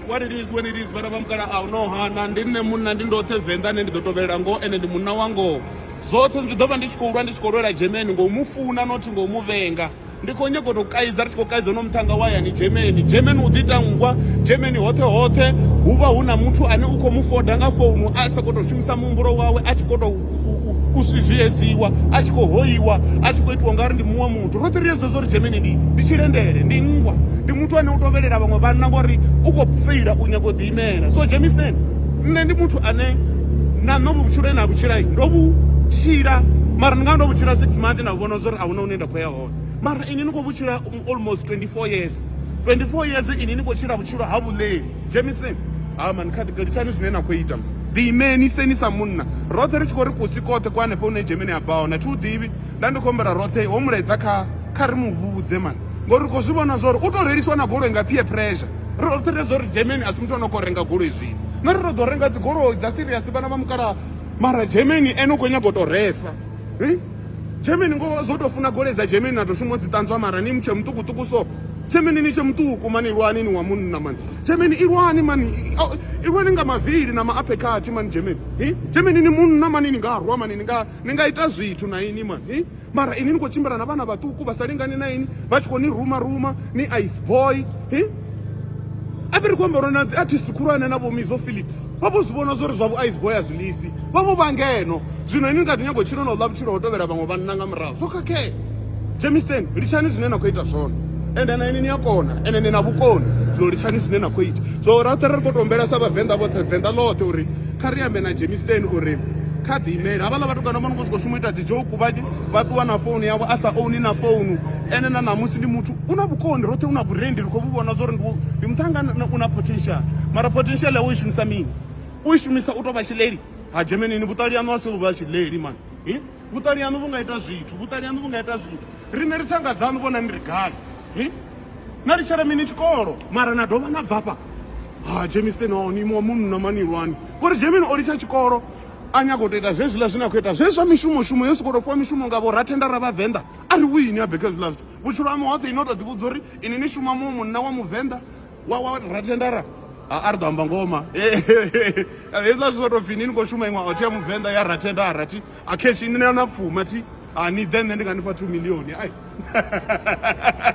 what it is when it is vhana vha mukala a no hana ndi nṋe munna ndi ndoṱhe venḓa ane ndi ḓo tovhelela ngoho ene ndi munna wa ngoho zwoṱhe ndi ḓo vha ndi tshi khou lwa ndi tshi khou lwela germany ngo mu funa nothi ngo mu vhenga ndi khou nyago tou kaidza ri tshi khou kaidza no muṱhanga wa yani germany germany u ḓitangwa germany hoṱhe hoṱhe hu vha hu na muthu ane u khou mu foda nga founu a sa khou tou shumisa muhumbulo wawe a tshi khou tou u zwiedzeiwa a tshi khou hoiwa a tshi khou itiwa u nga ri ndi muṅwe muthu roṱhe ri yedzwa zwa uri dzhemeni ndi ndi tshilendele ndi nngwa ndi muthu ane u tovhelela vhaṅwe vhanna ngori u khou feila u nyago u ḓiimela so dzhemistan nṋe ndi muthu ane na nṋe vhutshilo e na vhutshilai ndo vhu tshila mara ndi nga ndo vhutshila six month nda vhona zwa uri a huna hune nda khou ya hone mara ini ni khou vhutshila almost 24 years 24 years ini ni khou tshila vhutshilo ha vhuleli Dzhemiseni ha mani kha ḓi litshani zwine na khou ita. Ḓi imeni seni sa munna. Roṱhe ri tshi khou ri kusi koṱhe kwa hanefha hune Dzhemeni a bva hone. Thi u ḓivhi. Nda ndi khou humbela roṱhe ho mulaedza kha kha ri mu vhudze mani. Ngori ri khou zwi vhona zwa uri u tou reliswa na goloi nga peer pressure. Ri roṱhe ri a zwa uri Dzhemeni a si muthu a no khou renga goloi zwino. Na ri tou ḓo renga dzigoloi dza serious vhana vha mukalaha mara Dzhemeni ene u khou nyaga u tou refa. Germany ngoho zwo tou funa gole dza Germany na tou shuma dzi ṱanzwa mara ni mutshe muṱukuṱuku so Germany ni tshe muṱuku mani lwani ni wa munna mani Germany i lwani mani i lwani nga mavili na maaphekhathi mani Germany hi Germany ni munna mani ni nga rwa mani ni nga ni nga ita zwithu na ini mani hi mara ini ni khou tshimbila na vhana vhaṱuku vha sa lingani na ini vha tshi khou ni ruma ruma ni ice boy hi a vhe ri khou amba uri na dzi artist khulwane na vho Mizo Phillips vha vho zwi vhona zwori zwa vhu ice boy a zwi lisi vha vho vha ngeno zwino ini ni kha ḓi nyago tshilo na u ḽa vhutshilo ho tovhela vhaṅwe vhanna nga murahu zwo khakhea jamisten litshani zwine na khou ita zwone ende na ini ni a kona ende ni na vhukoni zwino litshani zwine na khou ita so roṱhe ri khou tombela sa vhavenḓa vhoṱhe venḓa ḽoṱhe uri kha ri ambe na jamisten uri kha ḓi imele havhaḽa vhatukana vha no khou sokou shuma u ita dzi joku vha vha ṱuwa na founu yavho a sa ouni na founu ene na ṋamusi ndi muthu U na vhukondi roṱhe, u na vhurendi, ri khou vhu vhona zwori ndi ndi muṱhanga na- u na potential. Mara potential yawe u i shumisa mini? U i shumisa u tou vha tshileli? Ha Germany ni vhuṱali haṋu a si u vha tshileli man. Hi? Vhuṱali haṋu vhu nga ita zwithu, vhuṱali haṋu vhu nga ita zwithu. Riṋe ri thanga dzaṋu vhona ni ri gai. Hi? Na litshela mini tshikolo mara na dovha na bvafha. Ha James Ten o ni imuwa munna mani lwani. Ngori Germany o litsha tshikolo a nyaga u tou ita zwezwiḽa zwine a khou ita. Zwezwi zwa mishumo shumo yo sokou tou fhiwa mishumo nga vho rathendara vha venḓa a ri wini a beke zwiḽa zwithu vhutshilo ha muhoṱhe ino to ḓivhudza uri ini ni shuma mu munna wa muvenḓa wa wa ratendara a ri ḓo amba ngoma hezwiḽa zwi soto pfini ni khou shuma iṅwe othi ya muvenḓa ya ratenda a rathi a khetshi ni na pfuma thi a ni ḓe nṋe ndi nga nifha two millioni ai